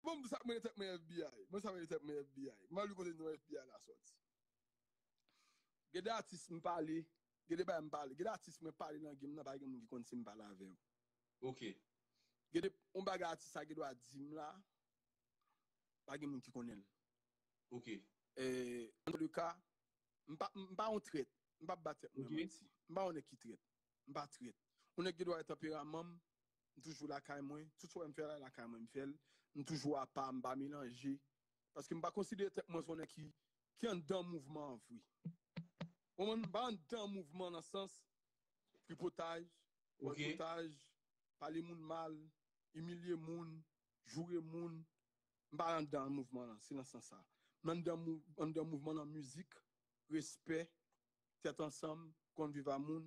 Bon m sak mele tèt mwen FBI mwen sak mele tèt mwen FBI man li kote non FBI la sòti gen de atis m pale gen de bagay m pale gen de atis mwen pale nan game nan pa gen moun ki konn si m pale avè yo ok gen de on bagay atis sa gendwa di m la pa gen moun ki konnen l ok en tout le ka m pa m pa on trèt m pap bat tèt mwen manti m pa on nèg ki trèt m pa trèt on nèg gendwa gen tanperaman m M toujou lakay mwen. Tout sa w wè m fè la, lakay mwen m fè l. M toujou apa, m pa melanje. Paske m pa konsidere tèt mwen se yon nèg ki ki anndan mouvman an vre. Ou konprann? M pa anndan mouvman nan sans tripotaj, bòlkotaj, pale moun mal, imilye moun, joure moun. M pa anndan mouvman an. Se nan sans sa. M anndan anndan mouvman nan mizik, respè, tèt ansanm, konn viv a moun.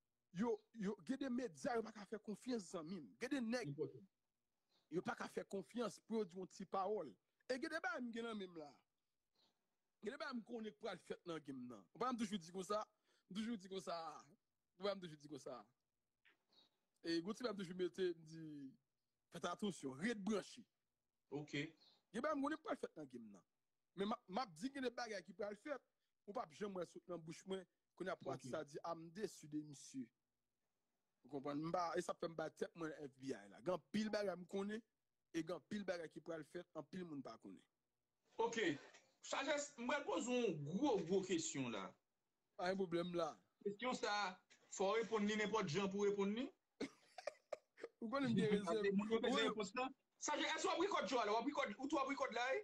Yo yo gen de medya yo pa ka fè konfyans zanmim. Gen de nèg yo pa ka fè konfyans pou yo di yon ti pawòl. E gen de bagay m gen nan menm la. Gen de bagay m konnen k pral fèt nan game nan. Ou pa wè m toujou di konsa? M toujou di konsa. Ou wè m toujou di konsa. E gon ti bagay m toujou mete m di fèt atansyon, ret branche. Ok. Gen bagay m konnen k pral fèt nan game nan. Men map di gen de bagay ki pral fèt, ou pap janm wè l sot nan bouch mwen Kounye a pwati sa di a m desu de misye. Ou konprann? M pa, e sa fè m ba tèt mwen FBI la. Gen anpil bagay m konnen, e gen anpil bagay ki pral fèt, anpil moun pa konnen. Ok. Sajès, m pral poze w yon gwo gwo kesyon la. Pa gen pwoblèm, m la. Kesyon sa, fò w reponn li nenpòt jan pou w reponn li. Ou konnen m gen rezèv. Moun yo bezwen repons lan. Sajès, èske w ap rekòd Joel la? Ou ap rekòd, ou tou ap rekòd la wi?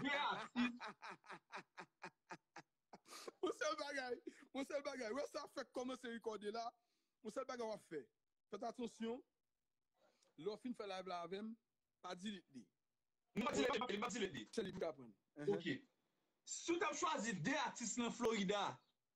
Vye atis. Yon sèl bagay, yon sèl bagay. Wè sa fèk kòmanse rekòde la. Yon sèl bagay wap fè. Fèt atansyon. Lè w fin fè live la avèm, pa delete li. M pa delete li, m pa delete li. Sèl li pou kapon. Ok. Si w tap chwazi 2 atis nan Florida,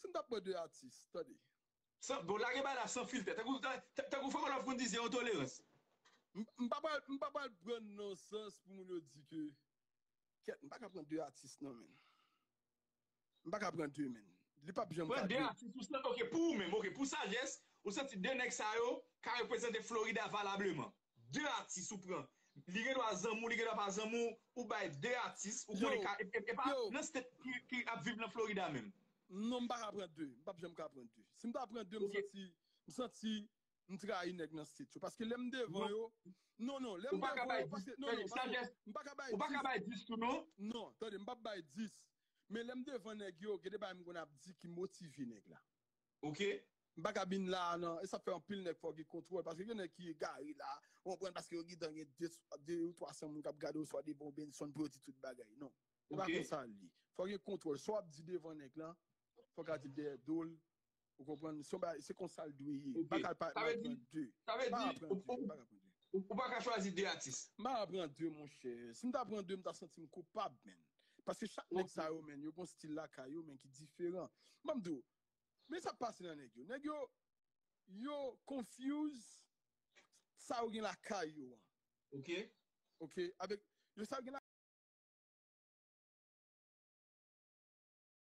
Si m tap pran 2 atis, tande. San, bon lage bagay la san filtè, tankou, tankou Fòk Olòf konn di zero tolerans. M, m pa pral, m pa pral pran l nan sans pou moun yo di ke, kèt, m pa ka pran 2 atis non menn. M pa ka pran 2 menn. Li pap janm ka 2. Pran 2 atis ou san, ok, pou ou menm, ok, pou sajès, ou santi 2 nèg sa yo ka reprezante Florida valableman. 2 atis ou pran li gen dwa zanmi w li gen dwa pa zanmi w ou bay 2 atis ou konnen ka e pa nan state ki ap viv nan Florida menm. Non m pa ka pran 2, m pap janm ka pran 2. Si m ta pran 2 m santi m santi m trayi nèg nan state yo paske lè m devan yo non non lè m devan yo paske non non pase m pa ka bay 10. Ou pa ka bay 10 tou non. Non tande m pap bay 10 men lè m devan nèg yo gen de bagay m konn ap di ki motive nèg la. ok. M paka vin la a nan, e sa k fè anpil nèg fò gen kontwòl paske gen nèg ki egare la a, ou konprann, paske yo gentan gen 2 ou 300 moun k ap gade oswa devan ou Benson pou yo di tout bagay, non se pa konsa l ye, fò gen kontwòl, sa w ap di devan nèg lan fò w ka di l dèyè do l, ou konprann, se yon bagay, se konsa l dwe ye, m pa ka pa al pran 2, m pa ka pran 2, m pa ka pran 2. Ou pa ka chwazi 2 atis? M pa ka pran 2 monchè, si m ta pran 2 m ta santi m koupab menn, paske chak nèg sa yo menn yo gen yon stil lakay yo menn ki diferan, m ap di w, Men sa pase nan nèg yo. Nèg yo yo confuse sa yo gen lakay yo an. Ok. Ok avèk yo sa yo gen.